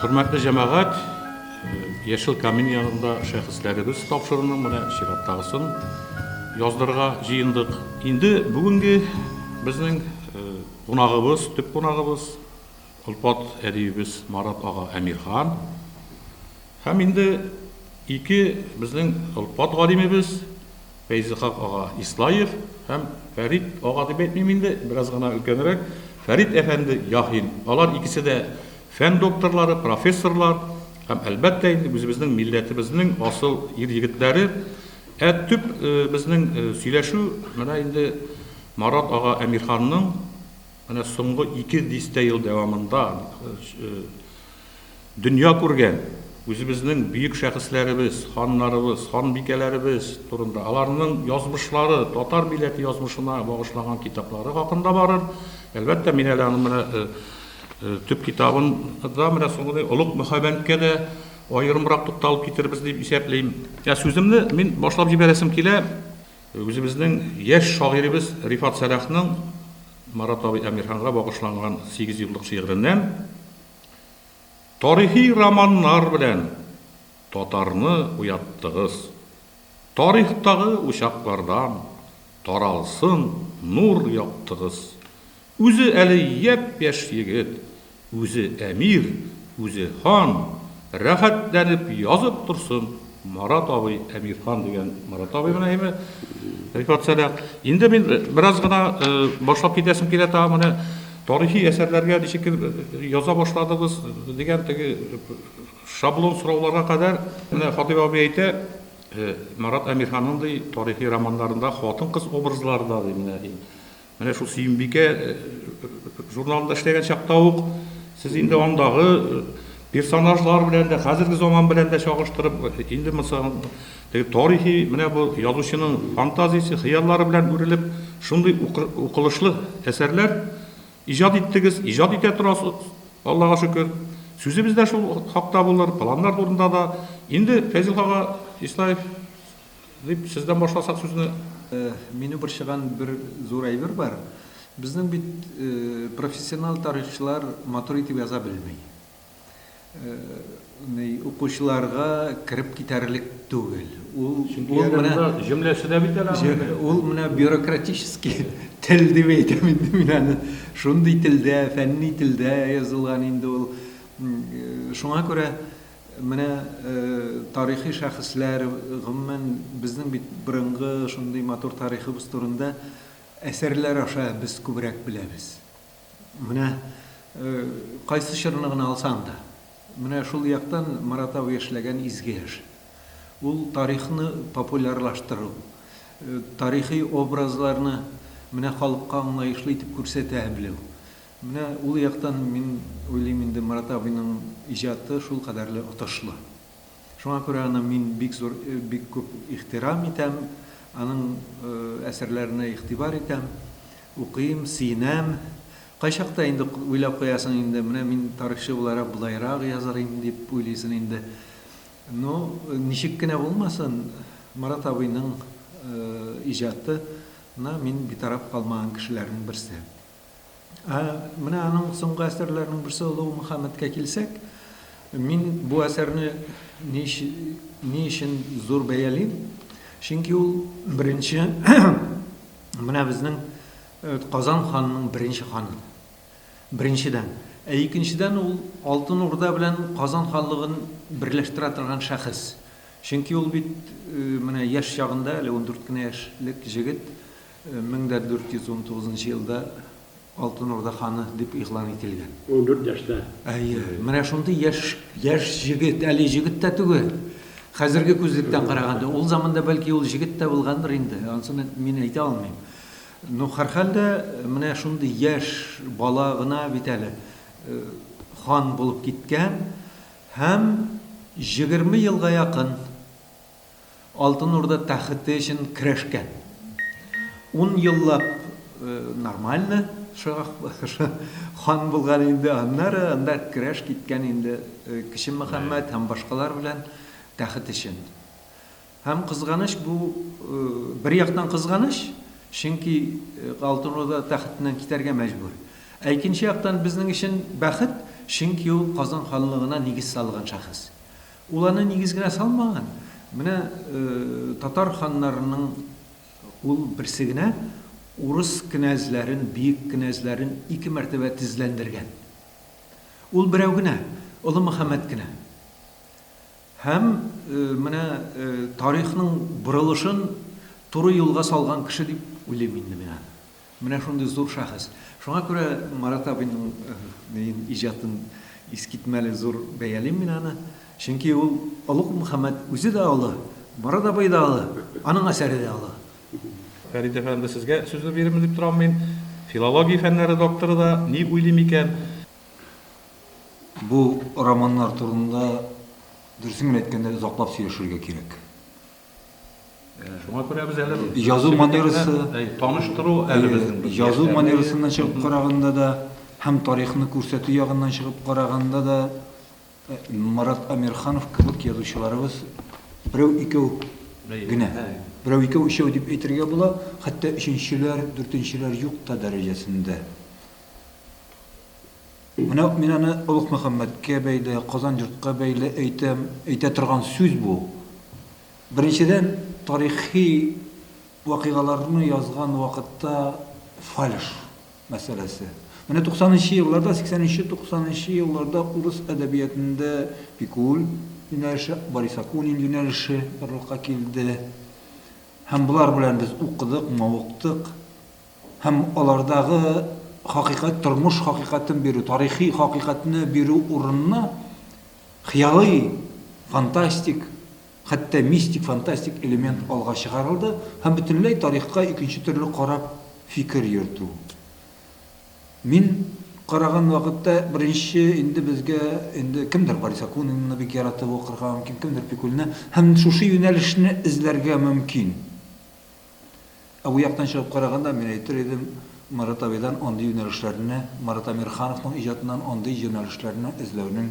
Хөрмәтле җәмәгать, Яшел камин янында шәхесләребез тапшыруны менә чираттагысын яздырга җыендык. Инде бүгенге безнең кунагыбыз, төп кунагыбыз Олпат әдибебез Марат ага Әмирхан һәм инде ике безнең олпат галимебез Фәйзыйхак ага Ислаев һәм Фәрит ага дип әйтмим инде, бераз гына өлкәнрәк, Фәрит әфәнде Яхин. Алар икесе дә фән докторлары, профессорлар һәм, әлбәттә инде, үзебезнең милләтебезнең асыл ир-егетләре. Ә төп безнең сөйләшү менә инде Марат ага Әмирханның, Менә соңгы ике дистә ел дәвамында дөнья күргән үзебезнең бөек шәхесләребез, ханнарыбыз, ханбикәләребез турында, аларның язмышлары, татар милләте язмышына багышлаган китаплары хакында барыр. Әлбәттә, мин әле аның менә төп китабын да менә соңгы Олуг Мөхәббәнткә дә аерымрак тукталып китербез дип исәплим. Ә сүземне мин башлап җибәрәсем килә Үзебезнең яшь шагыйребез Рифат Сәлахның Марат абый Әмирханга багышланган сигезьюллык шигыреннән Тарихи романнар белән татарны уяттыгыз, тарихтагы учаклардан таралсын нур яктыгыз. Үзе әле япь-яшь егет, үзе әмир, үзе хан, рәхәтләнеп язып торсын Марат абый, Әмирхан дигән Марат абый менә әйме, рекордсәдә. Инде мин бераз гына башлап китәсем килә тагын менә тарихи әсәрләргә ничек яза башладыгыз дигән теге шаблон сорауларга кадәр. Менә Хатыйп абый әйтә, Марат Әмирханның ди тарихи романнарында хатын-кыз образлары да ди менә ди. Менә шул Сөембикә журналында эшләгән чакта ук сез инде андагы персонажлар белән дә, хәзерге заман белән дә чагыштырып, инде мисал, теге тарихи менә бу язучының фантазиясе, хыяллары белән үрелеп, шундый укылышлы әсәрләр иҗат иттегез, иҗат итә торасыз, Аллага шөкер. Сүзебез дә шул хакта булыр, планнар турында да. Инде Фәйзелгага Исаев Дип, сездән башласак сүзне. Мине борчыган бер зур әйбер бар. Безнең бит профессионал тарихчылар матур итеп яза белми. Ни, укучыларга кереп китәрлек түгел. Ул, ул менә. Җөмләсе дә бит әле аның. Ул менә бюрократический тел дип әйтәм инде мин аны. Шундый телдә, фәнни телдә язылган инде ул. Шуңа күрә. Менә тарихи шәхесләр, гомумән, безнең бит борынгы шундый матур тарихыбыз турында әсәрләр аша без күбрәк беләбез. Менә кайсы чорны гына алсаң да, менә шул яктан Марат абый эшләгән изге эш. Ул тарихны популярлаштыру, тарихи образларны менә халыкка аңлаешлы итеп күрсәтә белү. Менә ул яктан мин уйлыйм инде Марат абыйның иҗаты шул кадәрле отышлы. Шуңа күрә аны мин бик зур бик күп ихтирам итәм, аның әсәрләренә игътибар итәм, укыйм, сөенәм. Кайчакта инде уйлап куясың инде, менә мин тарихчы буларак болайрак язар идем дип уйлыйсын инде. Ну, ничек кенә булмасын, Марат абыйның иҗаты на мин битараф калмаган кешеләрнең берсе. Ә менә аның соңгы әсәрләренең берсе Олуг Мөхәммәдкә килсәк, мин бу әсәрне ни ни өчен зур бәялим? Чөнки ул беренче менә безнең э, Казан ханының беренче ханы. Беренчедән, ә икенчедән ул Алтын Урда белән Казан ханлыгын берләштерә торган шәхес. Чөнки ул бит э, менә яшь чагында, әле 14 кенә яшьлек җегет, Мең дә дүрт йөз унтугызынчы елда Алтын Урда ханы дип игълан ителгән. Ундүрт яшьтә. Әйе. Менә шундый яшь, яшь җегет, әле җегет тә түгел. Хәзерге күзлектән караганда, ул заманда бәлки ул җегет тә булгандыр инде, ансын мин әйтә алмыйм. Ну, һәрхәлдә, менә шундый яшь бала гына бит әле хан булып киткән һәм егерме елга якын. Алтын Урда тәхете өчен көрәшкән. Ун еллап нормально хан булган инде, аннары анда көрәш киткән инде Кече Мөхәммәт һәм башкалар белән тәхет өчен. Һәм кызганыч, бу бер яктан кызганыч, чөнки Алтын Урда тәхетеннән китәргә мәҗбүр. Ә икенче яктан безнең өчен бәхет, чөнки ул Казан ханлыгына нигез салган шәхес. Ул аны нигез генә салмаган, менә татар ханнарының ул берсе генә урыс кенәзләрен, биек кенәзләрен ике мәртәбә тезләндергән. Ул берәү генә, Олы Мөхәммәт кенә. Һәм менә тарихның борылышын туры юлга салган кеше дип уйлыйм инде мин аны. Менә шундый зур шәхес. Шуңа күрә Марат абыйның иҗатын искитмәле зур бәялим мин аны. Чөнки ул олуг Мөхәммәт үзе дә олы, Марат абый да олы, аның әсәре дә олы. Фәрит әфәнде, сезгә сүзне бирермен дип торам мин. Филология фәннәре докторы да ни уйлый микән? Бу романнар турында, дөресен генә әйткәндә, озаклап сөйләшергә кирәк. Шуңа күрә без әле язу манерасы, таныштыру әле безнең бер язу манерасыннан чыгып караганда да һәм тарихны күрсәтү ягыннан чыгып караганда да Марат Амирханов кебек язучыларыбыз берәү-икәү генә. Берәү-икәү-өчәү дип әйтергә була, хәтта өченчеләр, дүртенчеләр юк та дәрәҗәсендә. Менә мин аны Олуг Мөхәммәткә бәйле, Казан йортка бәйле әйтәм. Әйтә торган сүз бу. Беренчедән, тарихи вакыйгаларны язган вакытта фальш мәсьәләсе. Менә туксанынчы елларда, сиксәненче-туксанынчы елларда урыс әдәбиятында Пикуль юнәлеше, Борис Акунин юнәлеше барлыкка килде. Һәм болар белән без укыдык, мавыктык. һәм алардагы хакыйкать, тормыш хакыйкатен бирү, тарихи хакыйкатьне бирү урынына хыялый, фантастик, хәтта мистик, фантастик элемент алга чыгарылды һәм бөтенләй тарихка икенче төрле карап фикер йөртү. Мин караган вакытта беренче инде безгә инде кемдер Борис Акунинны бик яратып укырга мөмкин, кемдер Пикульны һәм шушы юнәлешне эзләргә мөмкин. Ә бу яктан чыгып караганда, мин әйтер идем, Марат абыйдан андый юнәлешләрне, Марат Әмирхановның иҗатыннан андый җонәлешләрне эзләүнең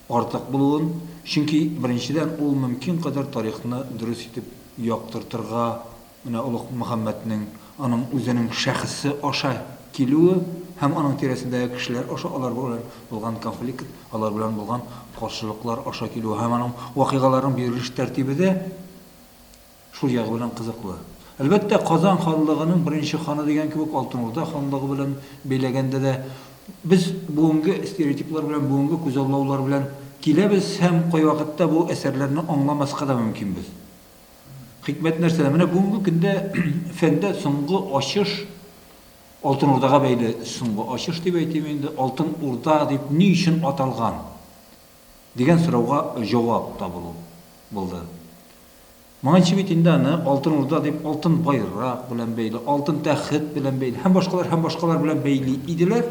артык булуын, чөнки, беренчедән, ул мөмкин кадәр тарихны дөрес итеп яктыртырга, менә Олуг Мөхәммәтнең, аның үзенең шәхесе аша килүе һәм аның тирәсендәге кешеләр аша алар белән булган конфликт, алар белән булган каршылыклар аша килүе һәм аның вакыйгаларының бирелеш тәртибе дә Шул ягы белән кызыклы. Әлбәттә, Казан ханлыгының беренче ханы дигән кебек Алтын Урда ханлыгы белән бәйләгәндә дә без бүгенге стереотиплар белән, бүгенге күзаллаулар белән киләбез һәм кайвакытта бу әсәрләрне аңламаска да мөмкинбез. Хикмәт нәрсәдә? Менә бүгенге көндә фәндә соңгы ачыш Алтын Урдага бәйле соңгы ачыш дип әйтим инде. Алтын Урда дип ни өчен аталган? дигән сорауга җавап табылу булды. Моңынчы бит инде аны Алтын Урда дип алтын байрак белән бәйли, алтын тәхет белән бәйли һәм башкалар һәм башкалар белән бәйли иделәр.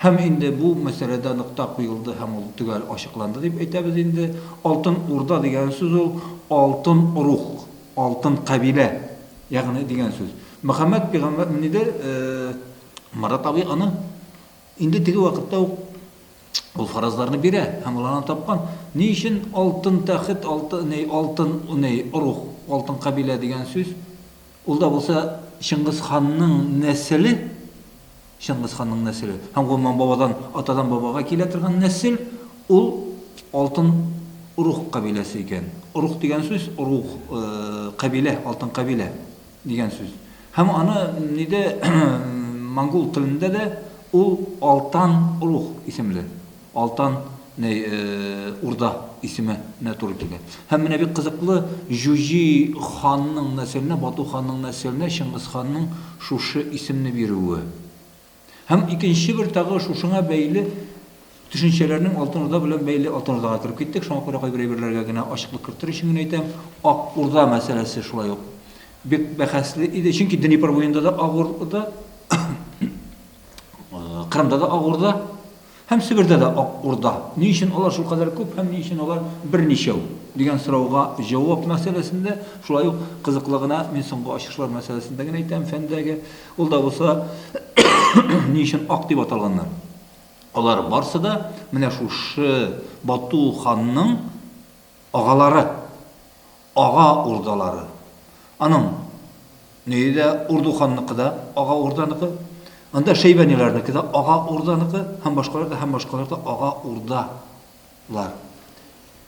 Һәм инде бу мәсьәләдә нокта куелды һәм ул төгәл ачыкланды дип әйтәбез инде. Алтын Урда дигән сүз ул алтын рух, алтын кабилә, ягъни дигән сүз. Мөхәммәд пигамбәр, ниде, Марат абый аны? Инде теге вакытта ук ул фаразларны бирә һәм ул аны тапкан. Ни өчен алтын тәхет, алты ней, алтын ней, орух, алтын кабилә дигән сүз? Ул да булса Чыңгыз ханның нәселе, Чыңгыз ханның нәселе, һәм, гомумән, бабадан, атадан бабага килә торган нәсел, ул алтын орух кабиләсе икән. Орух дигән сүз, орух, кабилә, алтын кабилә дигән сүз. Һәм аны ниде монгол телендә дә ул Алтан рух исемле, Алтан не урда исеме нә туры килә. Һәм менә бик кызыклы Җуҗи ханның нәселенә, Бату ханның нәселенә Чыңгыз ханның шушы исемне бирүе. Һәм икенче бер тагы шушыңа бәйле төшенчәләрнең Алтын Урда белән бәйле Алтын Урдага кереп киттек, шуңа күрә кайбер әйберләргә генә ачыклык кертер өчен генә әйтәм, Ак Урда мәсьәләсе шулай ук бик бәхәсле иде, чөнки Днепр буенда да Ак Урда, Кырымда да Ак Урда, Һәм Себердә дә Ак Урда, ни өчен алар шулкадәр күп һәм ни өчен алар берничәү? дигән сорауга җавап мәсьәләсендә, шулай ук, кызыклы гына, мин соңгы ачышлар мәсьәләсендә генә әйтәм, фәндәге, ул да булса, ни өчен ак дип аталганнар? Алар барсы да менә шушы Бату ханның агалары. Ага урдалары. Аның өе дә Урду ханныкы да Ага урданыкы, анда шәйбәниләрнеке дә Ага урданыкы һәм башкалар да һәм башкалар да Ага урда лар.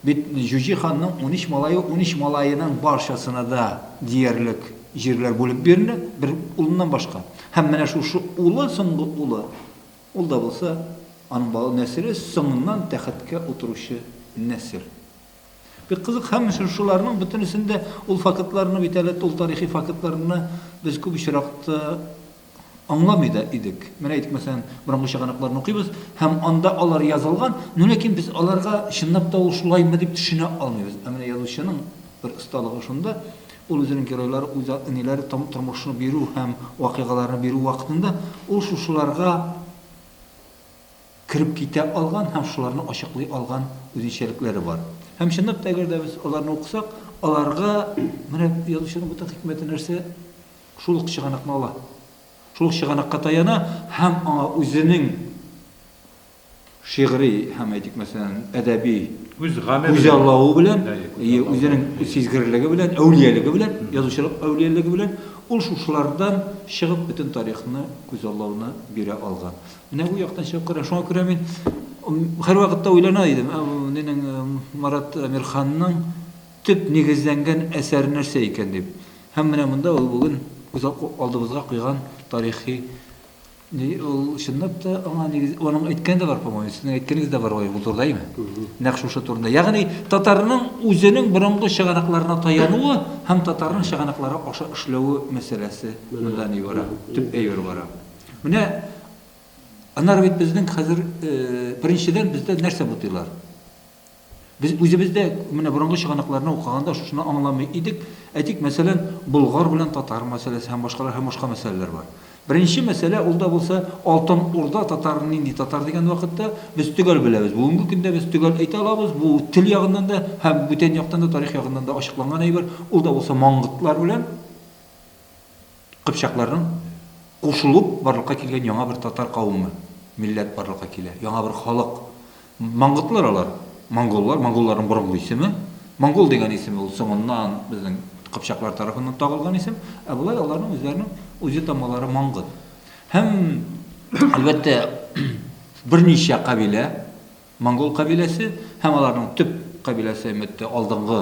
Бит Җүҗи ханның унөч малае, унөч малаеның барчасына да диярлек җирләр бүлеп бирелә, бер улыннан башка. Һәм менә шушы улы, соңгы улы, ул да булса, аның бала нәселе соңыннан тәхеткә утыручы нәсел. Бик кызык, һәм шушыларның бөтенесен дә ул фактларны бит әле, ул тарихи фактларны без күп очракта аңламый да идек. Менә әйтик, мәсәлән, борынгы чыганакларны укыйбыз, һәм анда алар язылган, но ләкин без аларга чынлап та ул шулаймы дип төшенә алмыйбыз. Ә менә язучының бер осталыгы шунда, ул үзенең геройлары, үз әниләре тормышны бирү һәм вакыйгаларны бирү вакытында ул шушыларга кереп китә алган һәм шуларны ачыклый алган үзенчәлекләре бар. Һәм чынлап та, әгәр дә без аларны укысак, аларга менә язучының бөтен хикмәте нәрсә? Шул ук чыганакны ала. Шул ук чыганакка таяна һәм аңа үзенең шигъри һәм, әйтик мәсәлән, әдәби Үз гаме белән. күзаллавы белән, әйе, үзенең сизгерлеге белән, әүлиялеге белән, язучылык әүлиялеге белән ул шушылардан чыгып бөтен тарихны күзаллауны бирә алган. Менә бу яктан чыгып кара, шуңа күрә мин һәрвакытта уйлана идем, ә нинең Марат Әмирханның төп нигезләнгән әсәре нәрсә икән дип. Һәм менә монда ул бүген күз алдыбызга куйган тарихи ул чынлап та аңа нигез аның әйткәне дә бар, по-моему, сезнең әйткәнегез дә бар ул турыда, әйме? Нәкъ шушы турында. Ягъни татарның үзенең борынгы чыганакларына таянуы һәм татарның чыганаклары аша эшләве мәсьәләсе монда ни бара, төп әйбер бара. Менә анар бит безнең хәзер беренчедән бездә нәрсә бутыйлар? Без үзебездә менә борынгы чыганакларны укыганда шушыны аңламый идек. Әйтик, мәсәлән, Болгар белән татар мәсьәләсе һәм башкалар һәм башка мәсьәләләр бар. Беренче мәсьәлә ул да булса Алтын Урда татар нинди татар дигән вакытта без төгәл беләбез. Бүгенге көндә без төгәл әйтә алабыз. Бу тел ягыннан да һәм бүтән яктан да тарих ягыннан да ачыкланган әйбер. Ул да булса маңгытлар белән кыпчакларның кушылып барлыкка килгән яңа бер татар кавымы, милләт барлыкка килә, яңа бер халык. Мангытлар алар, монголлар, монголларның борынгы исеме. Монгол дигән исеме ул соңыннан безнең кыпчаклар тарафыннан тагылган исем, ә болай аларның үзләренең үзе-тамалары мангыт. Һәм, әлбәттә, берничә кабилә, Монгол кабиләсе һәм аларның төп кабиләсе, әлбәттә, алдынгы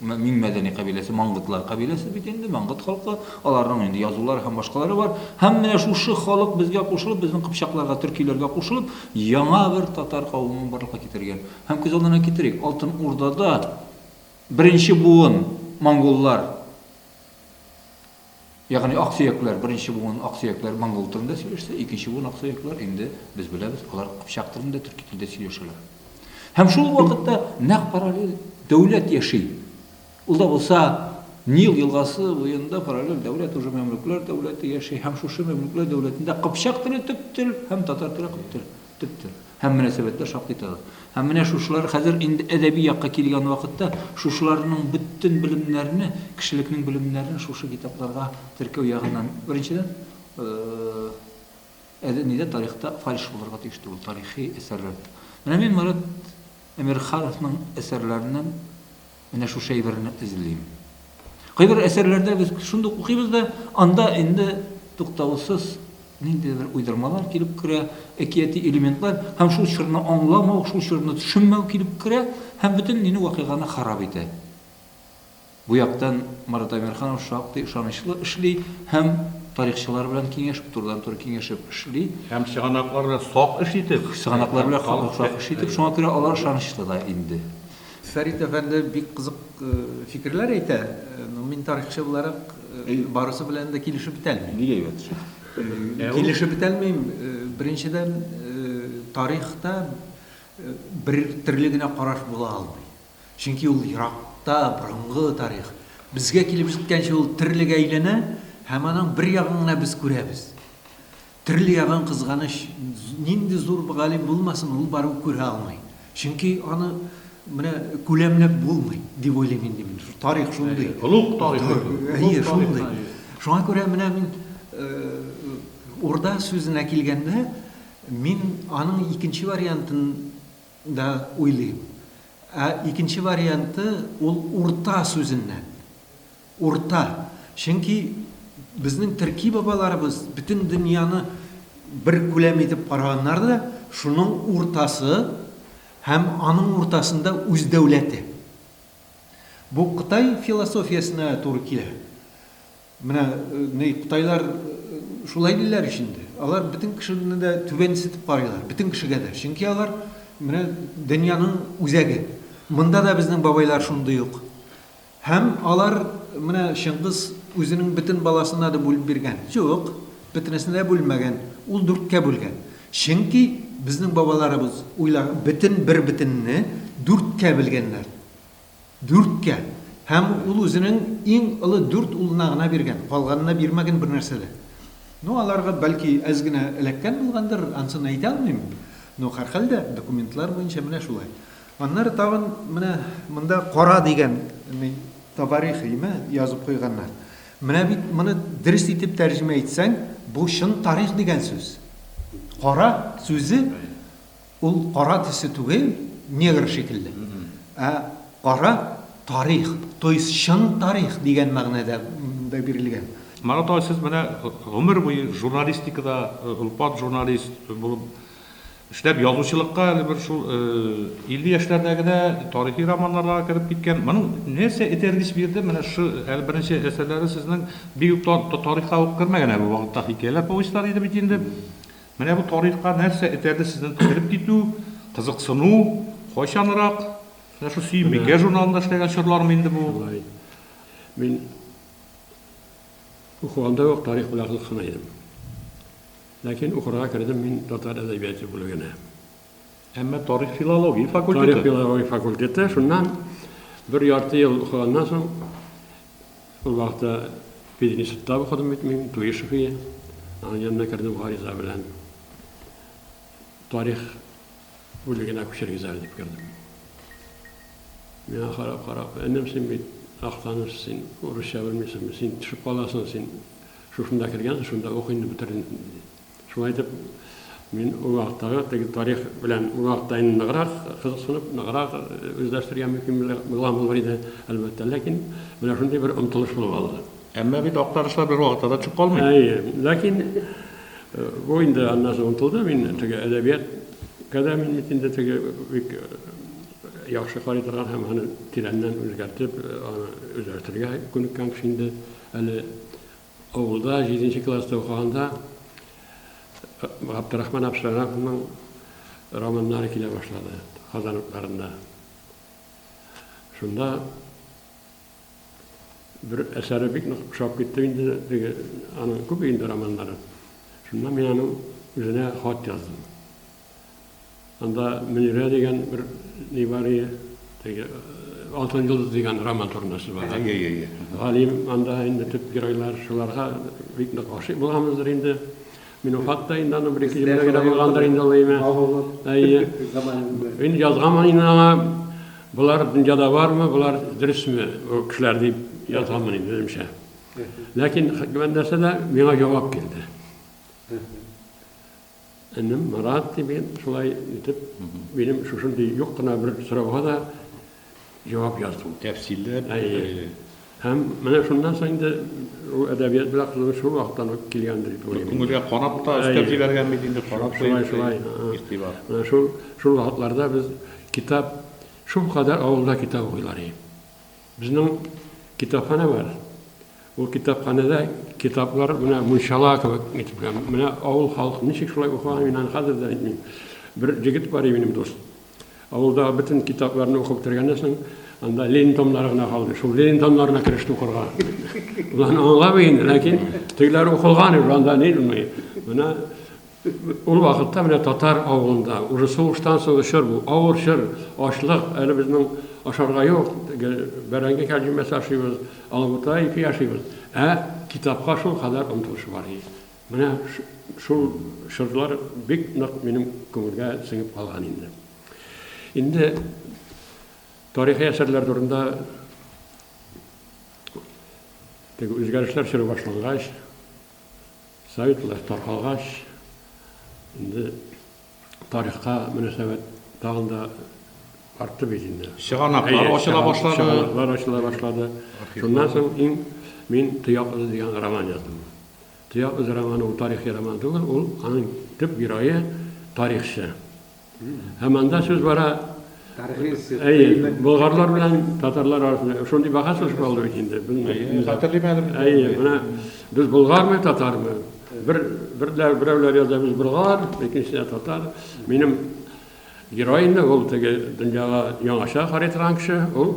иң мәдәни кабиләсе, мангытлар кабиләсе бит инде, мангыт халкы, аларның инде язулары һәм башкалары бар. Һәм менә шушы халык безгә кушылып, безнең кыпчакларга, төркиләргә кушылып, яңа бер татар кавымын барлыкка китергән. Һәм күз алдына китерик, Алтын Урдада беренче буын монголлар, Ягъни аксөякләр, беренче буын аксөякләр монгол телендә сөйләшсә, икенче буын аксөякләр инде, без беләбез, алар кыпчак телендә, төрки телдә сөйләшәләр. Һәм шул вакытта нәкъ параллель дәүләт яши. Ул да булса Нил елгасы буенда параллель дәүләт уже мәмлүкләр дәүләте яши һәм шушы мәмлүкләр дәүләтендә кыпчак теле төп тел һәм татар теле кып тел. Төптер. Һәм мөнәсәбәтләр шактый тыгыз. Һәм менә шушылар хәзер инде әдәби якка килгән вакытта шушыларның бөтен белемнәрне, кешелекнең белемнәрен шушы китапларга теркәү ягыннан, беренчедән, әле нидә тарихта фальш булырга тиеш түгел, тарихи әсәрләрдә. Менә мин Марат Әмирхановның әсәрләреннән Менә шушы әйберне эзлим. Кайбер әсәрләрдә без шундук укыйбыз да, анда инде туктаусыз ниндидер уйдырмалар килеп керә, әкияти элементлар һәм шул чорны аңламау, шул чорны төшенмәү килеп керә һәм бөтен нине вакыйганы харап итә. Бу яктан Марат Әмирханов шактый ышанычлы эшли һәм тарихчылар белән киңәшеп, турыдан-туры киңәшеп эшли. Һәм чыганаклар белән сак эш итеп. Чыганаклар белән сак эш итеп, шуңа күрә алар ышанычлы да инде. Фәрит әфәнде бик кызык фикерләр әйтә, но мин тарихчы буларак барысы белән дә килешеп бетәлмим. Бик әйбәт шул. Килешеп бетәлмим, беренчедән, тарихта бер төрле генә караш була алмый. Чөнки ул еракта, борынгы тарих. Безгә килеп җиткәнче ул төрлегә әйләнә һәм аның бер ягын гына без күрәбез. Төрле ягын кызганыч, нинди зур галим булмасын, ул барыбер күрә алмый. Чөнки аны менә күләмләп булмый, дип уйлыйм инде мин. Тарих шундый. Олуг тарих бит ул. Әйе, шундый. Шуңа күрә менә мин Урда сүзенә килгәндә, мин аның икенче вариантын да уйлыйм. Ә икенче варианты, ул урта сүзеннән. Урта. Чөнки безнең төрки бабаларыбыз бөтен дөньяны бер күләм итеп караганнар да, шуның уртасы һәм аның уртасында үз дәүләте. Бу Кытай философиясенә туры килә. Менә ни кытайлар шулай диләр ич инде. Алар бөтен кешене дә түбәнсетеп карыйлар, бөтен кешегә дә. Чөнки алар менә дөньяның үзәге. Монда да безнең бабайлар шундый ук. Һәм алар менә Чыңгыз үзенең бөтен баласына да бүлеп биргән? Юк, бөтенесенә дә бүлмәгән. Ул дүрткә бүлгән. Чөнки безнең бабаларыбыз уйла, бөтен бер бөтенне дүрткә белгәннәр. Дүрткә. Һәм ул үзенең иң олы дүрт улына гына биргән, калганына бирмәгән бернәрсә дә. Ну, аларга, бәлки, әз генә эләккән булгандыр, ансын әйтә алмыйм. Ну, һәрхәлдә, документлар буенча менә шулай. Аннары тагын менә монда кара дигән табарихыймы язып куйганнар. Менә бит моны дөрес итеп тәрҗемә итсәң, бу чын тарих дигән сүз. Кара сүзе ул кара төсе түгел, негр шикелле. Ә кара тарих, то есть чын тарих дигән мәгънәдә монда бирелгән. Марат абый, сез менә гомер буе журналистикада, олпат журналист булып, Эшләп язучылыкка әле бер шул 50 яшьләрдә генә тарихи романнарга кереп киткән. Моның нәрсә этәргеч бирде? Менә шу әле беренче әсәрләре сезнең бик үк тарихка ук кермәгән әле вакытта хикәяләр, повестьлар иде бит инде. Менә бу тарихка нәрсә этәрде сезнең кереп китү, кызыксыну, кайчанрак? Менә шул Сөем бикә журналында эшләгән чорлармы инде бу? Шулай. Мин укыганда ук тарих белән кызыксына идем. Ләкин укырга кердем мин татар әдәбияты бүлегенә. Әмма тарих-филология факультеты. Тарих-филология факультеты. Шуннан бер ярты ел укыганнан соң, ул вакытта пединститутта укыдым бит мин, Туешовия. Аның янына кердем гариза белән. Тарих бүлегенә күчергез әле дип кердем. Миңа карап-карап, энем син бит актаныш, син урысча белмисеңме, син төшеп каласың, син Шушында кергән, шунда ук инде бетердем, диде. Шулай итеп, мин ул вакыттагы теге тарих белән ул вакытта инде ныграк кызыксынып, ныграк үзләштерергә мөмкин булган булыр иде, әлбәттә. Ләкин менә шундый бер омтылыш булып алды. Әмма бит актарышлар бер вакытта да төшеп калмый. Әйе, ләкин бу инде аннан соң омтылды. Мин теге әдәбияткә дә мин бит инде теге бик яхшы карый торган һәм аны тирәннән үзгәртеп, аны үзләштерергә күнеккән кеше инде. Әле авылда җиденче класста укыганда Габдрахман Абшарановның романнары килә башлады Казан утларында. Шунда бер әсәре бик нык ошап китте инде, теге аның күп инде романнары. Шунда мин аның үзенә хат яздым. Анда Мөнирә дигән бер ни бар иде. Теге Алтын йолдыз дигән роман турында сүз бара. Әйе, әйе. Галим анда инде төп геройлар шуларга бик нык гашыйк булганбыздыр инде. Мин уфат та инде аны бер ике җөмлә генә булгандыр инде ул әйме. Әйе. Мин язганмын инде аңа болар дөньяда бармы, болар дөресме ул кешеләр дип язганмын инде үземчә. Ләкин нәрсә дә миңа җавап килде. Энем Марат дип мин шулай итеп, минем шушындый юк кына бер сорауга да җавап яздым. Тәфсилләп. Әйе. Һәм менә шуннан соң инде ул әдәбият белән кызыгыш шул вакыттан ук килгән дип уйлыйм. Күңелгә карап та өстәп җибәргән бит инде, карап шулай шулай. Игътибар. Менә шул шул вакытларда без китап шул кадәр авылда китап укыйлар иде. Безнең китапханә бар. Ул китапханәдә китаплар менә мунчала кебек итеп, менә авыл халкы ничек шулай укыган, мин аны хәзер дә әйтмим. Бер җегет бар минем дус. Авылдагы бөтен китапларны укып бетергәннән соң, анда Ленин томнары гына калды. Шул Ленин томнарына кереште укырга. Улан аңламый инде, ләкин тегеләр укылган, анда Ленин. Менә Ул вакытта менә татар авылында, уже сугыштан соңгы чор бу, авыр чор, ачлык, әле безнең ашарга юк, теге бәрәңге кәрҗимәсе ашыйбыз, алабута ипи ашыйбыз, ә китапка шулкадәр омтылыш бар иде. Менә шул чорлар бик нык минем күңелгә сеңеп калган инде. Инде тарихи әсәрләр турында теге үзгәрешләр чоры башлангач, Советлар таркалгач, инде тарихка мөнәсәбәт тагын да артты бит инде. Чыганаклар ачыла башлады. Чыганаклар ачыла башлады. Шуннан соң иң мин Тояк эзе дигән роман яздым. Тояк эзе романы ул тарихи роман түгел, ул аның төп герое тарихчы. Һәм анда сүз бара, әйе, болгарлар белән татарлар арасында шундый бәхәс үсеп алды бит инде. Хәтерлим әле. Әйе, менә без болгармы, татармы? Бер берләр берәүләр яза без болгар, икенчесе татар. Минем герой инде ул теге дөньяга яңача карый торган кеше, ул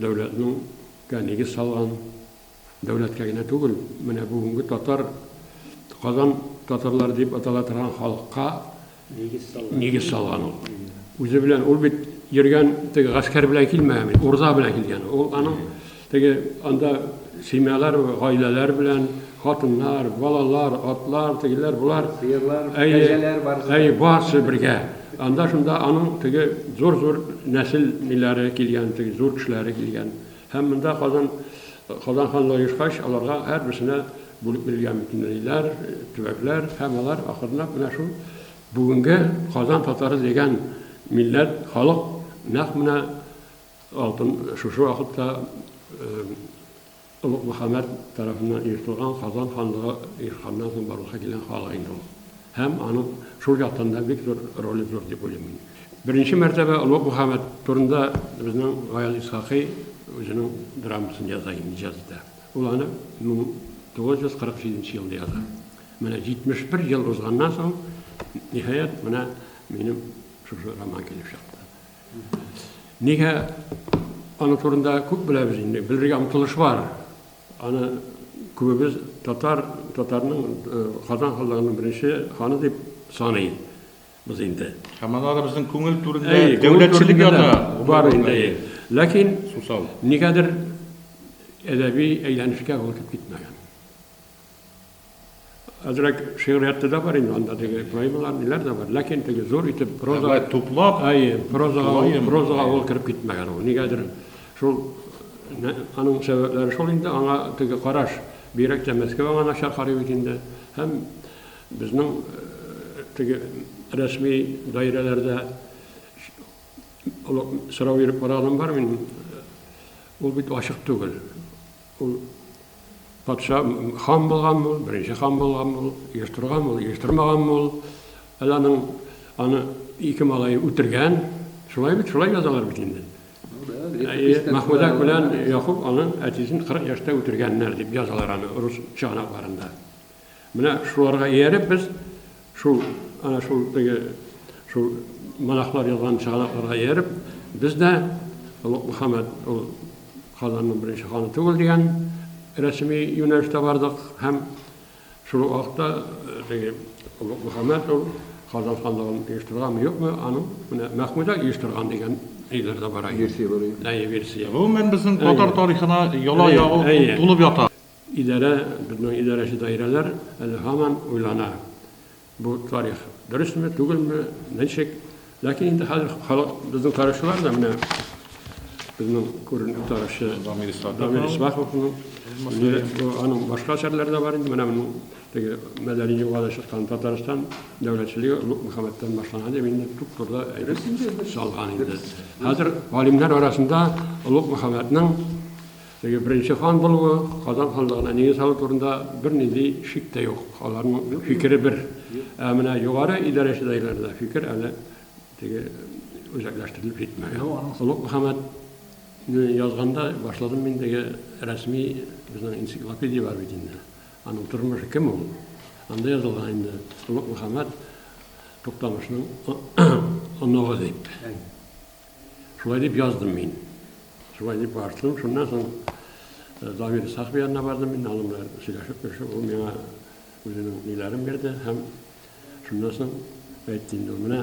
Дәүләтнең гә нигез салган, дәүләткә генә түгел, менә бүгенге татар, Казан татарлары дип атала торган халыкка нигез салган ул. Үзе белән, ул бит йөргән теге гаскәр белән килмәгән бит, урда белән килгән. Ул аның теге анда семьялар, гаиләләр белән, хатыннар, балалар, атлар, тегеләр, болар, сыерлар, кәҗәләр барысы. Әй, барысы бергә. Анда шунда аның теге зур-зур нәсел ниләре килгән, теге зур кешеләре килгән. Һәм монда Казан Казан ханлыгы оешкач, аларга һәрберсенә бүлеп бирелгән бөтенләйләр, төбәкләр һәм алар ахырнак менә шул бүгенге Казан татары дигән милләт, халык нәкъ менә алтын шушы вакытта Олуг Мөхәммәд тарафыннан оештырылган Казан ханлыгы оешканнан соң барлыкка килгән хал инде ул. Һәм аның шул яктан да бик зур роле зур дип уйлыйм мин. Беренче мәртәбә Олуг Мөхәммәд турында безнең Гаяз Исхакый үзенең драмасын яза инде, иҗат итә. Ул аны 1947 елда яза. Менә 71 ел узганнан соң, ниһаять, менә минем шушы роман килеп чыкты. Нигә аның турында күп беләбез инде, белергә омтылыш бар. Аны күбебез татар, татарның э, Казан ханлыгының беренче ханы дип саный без инде. Һәм анда да безнең күңел түрендә дәүләтчелек ята. Бар инде. Ләкин сусал. Нигәдер әдәби әйләнешкә ул үтеп китмәгән. Әзрәк шигъриятта да бар инде анда теге поэмалар, ниләр дә бар. Ләкин теге зур итеп проза Әгәр туплап, әйе, прозага, поэма, прозага ул кереп китмәгән ул. Нигәдер шул аның сәбәпләре шул инде, аңа теге караш, бигрәк тә Мәскәү аңа начар карый бит инде. Һәм безнең э, теге рәсми даирәләрдә сорау биреп караганым бар мин. Ул бит ачык түгел. Ул патша хан булган ул, беренче хан булган ул, еш торган ул, еш тормаган ул. Әле аның аны ике малай үтергән. Шулай бит, шулай язалар бит инде. Махмуда белән Якуб аның әтисен 40 яшьтә үтергәннәр дип язалар аны рус чыганакларында. Менә шуларга ияреп без шул, әнә шул теге, шул монахлар язган чыганакларга ияреп, без дә Олуг Мөхәммәд ул Казанның беренче ханы түгел дигән рәсми юнәлештә бардык һәм шул ук вакытта теге Олуг Мөхәммәд ул Казан ханлыгын оештырганмы, юкмы, аның менә Мәхмүдә оештырган дигән ниләр дә бар. Версия бар. Әйе, версия. Гомумән, безнең татар тарихына яла ягу тулып ята. Идарә, безнең идарәче даирәләр әле һаман уйлана, бу тарих дөресме, түгелме, ничек. Ләкин инде хәзер халык, безнең тарихчылар да менә безнең күренекле тарихчы Дамир Исмаховның аның башка әсәрләре дә бар инде, менә моның теге мәдәни юлга чыккан Татарстан дәүләтчелеге Олуг Мөхәммәттән башлана дип инде туп-турыда әйтеп салган инде. Хәзер галимнәр арасында Олуг Мөхәммәтнең Теге беренче хан булуы, Казан ханлыгына нигез салу турында бернинди шик тә юк. Аларның фикере бер. Ә менә югары идарәче даирләрдә фикер әле теге үзәкләштерелеп җитмәгән. Олуг Мөхәммәд не язганда башладым мин теге рәсми безнең энциклопедия бар бит инде. Аның тормышы кем ул? Анда язылган инде Олуг Мөхәммәд Туктамышның оныгы дип. Шулай дип яздым мин. Шулай дип бардым. Шуннан соң э, Дамир Исахов янына бардым мин. Аның белән сөйләшеп, сөйләшеп, ул миңа үзенең ниләрен бирде һәм шуннан соң әйтте инде, менә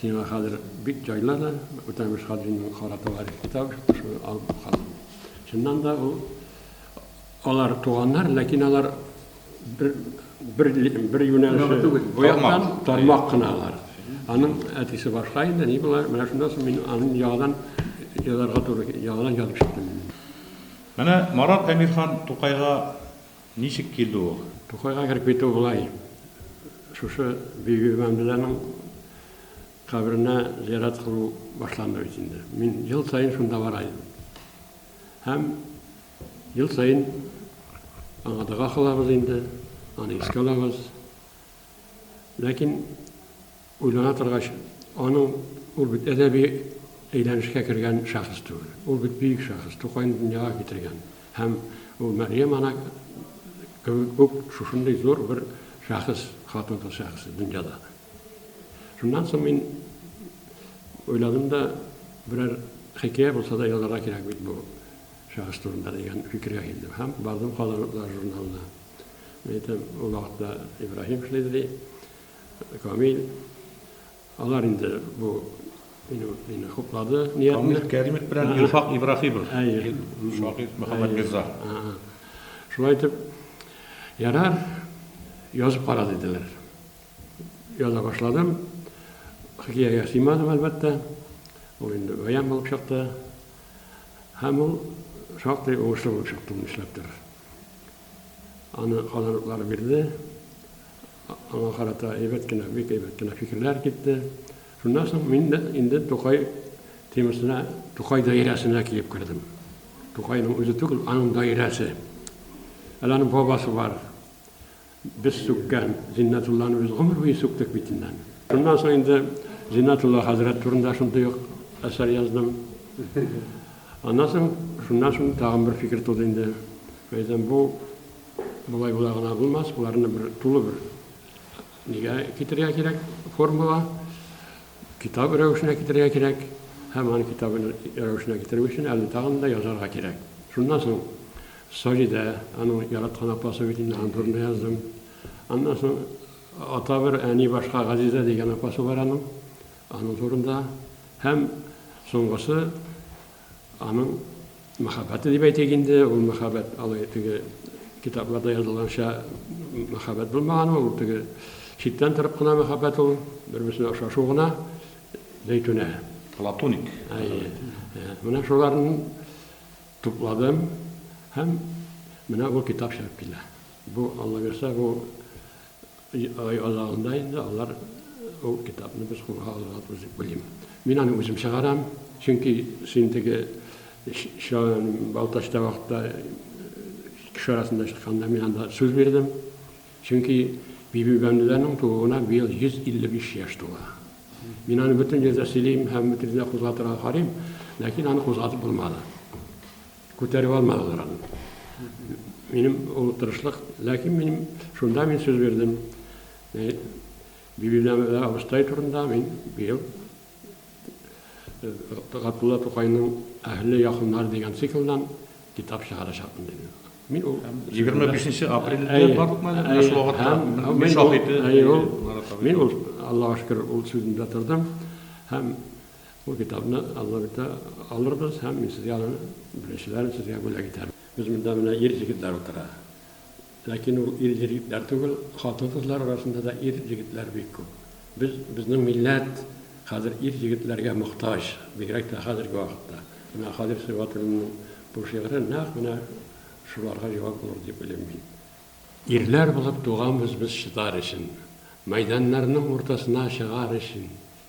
сиңа хәзер бик җайлы да, Үтәмеш Хаҗиның кара товарищ китабы чыкты, шуны алып калдым. Чыннан да ул Алар туганнар, ләкин алар бер, бер, бер юнәлеше түгел, бу яктан тармак кына алар. Аның әтисе башка инде, ни була, менә шуннан соң мин аның яңадан язарга туры, яңадан язып чыктым. Менә Марат Әмирхан Тукайга ничек килде ул? Тукайга кереп китү болай. Шушы Бибиби Мәмдүләнең каберенә зиярат кылу башланды бит инде. Мин ел саен шунда бара идем. Һәм Ел саен аңа дога кылабыз инде, аны искә алабыз. Ләкин уйлана торгач, аның, ул бит әдәби әйләнешкә кергән шәхес түгел. Ул бит бөек шәхес, Тукайны дөньяга китергән. Һәм ул Мәрьям ана кебек үк шушындый зур бер шәхес, хатын-кыз шәхесе дөньяда. Шуннан соң мин уйладым да, берәр хикәя булса да язарга кирәк бит бу. Шәхес турында дигән фикергә килдем һәм бардым Казан-утлары журналына. Мин әйтәм, ул вакытта Ибраһим эшлиде, ди, Камил. Алар инде бу минем мине хуплады. Камил Кәримов белән Илфак Ибраһимов. Әйе. Шагыйрь Мөхәммәт Мирза. Шулай итеп, ярар, язып кара, диделәр. Яза башладым. Хикәягә сыймадым, әлбәттә. Ул инде бәян булып чыкты. Һәм ул шактый уңышлы булып чыкты, ул эшләп тор. Аны казаныклар бирде. Аңа карата әйбәт кенә, бик әйбәт кенә фикерләр китте. Шуннан соң мин дә инде Тукай темасына, Тукай даирәсенә килеп кердем. Тукайның үзе түгел, аның даирәсе. Әле аның бабасы бар. Без сүккән Зиннәтулланы без гомер буе сүктек бит инде аны. Шуннан соң инде Зиннәтулла хәзрәт турында шундый ук әсәр яздым. Аннан соң, шуннан соң тагын бер фикер туды инде. Мин әйтәм, бу болай була гына булмас, боларны бер тулы бер нигә китерергә кирәк, формула. Китап рәвешенә китерергә кирәк. Һәм аны китап рәвешенә китерү өчен әле тагын да язарга кирәк. Шуннан соң Саҗидә, аның яраткан апасы бит инде, аның турында яздым. Аннан соң ата бер, әни башка Газизә дигән апасы бар аның. Аның турында. Һәм соңгысы Аның мәхәббәте дип әйтик инде, ул мәхәббәт алай теге китапларда язылганча мәхәббәт булмаган ул, теге читтән торып кына мәхәббәт ул, бер-берсенә ошашу гына, Зәйтүнә. Платоник. Әйе. Менә шуларны тупладым һәм менә бу китап чыгып килә. Бу, Аллабирса, бу Ай азагында инде алар ул китапны без кулга алырга туры дип уйлыйм. Мин аны үзем чыгарам, чөнки син теге Балтач табакта кеше арасында чыкканда мин анда сүз бирдем. Чөнки Бибибәндәнең тууына быел 155 яшь тула. Мин аны бөтен җирдә сөйлим һәм бөтен җирдә кузгатырга карыйм, ләкин аны кузгатып булмады. Күтәреп алмадылар аны. Минем ул тырышлык, ләкин минем шунда мин сүз бирдем. Э, Бибинәмәдә абыстай турында мин быел Габдулла Тукайның Әһле якыннар дигән циклдан китап чыгарачакмын дидем. Мин ул 25 апрельдә барлык мәгълүмат шул вакытта мин шаһиты. Мин ул Аллаһу шөкер ул сүзендә тордым һәм Бу китапны Алла бирсә, алырбыз һәм мин сезгә аны беренчеләрен сезгә бүләк итәм. Без монда менә ир җегетләр утыра. Ләкин ул ир җегетләр түгел, хатын-кызлар арасында да ир җегетләр бик күп. Без, безнең милләт хәзер ир җегетләргә мохтаҗ, бигрәк тә хәзерге вакытта. Менә Хәлил Сибгатуллинның бу шигыре нәкъ менә шуларга җавап булыр дип уйлыйм мин. Ирләр булып туганбыз без чыдар өчен, мәйданнарның уртасына чыгар өчен,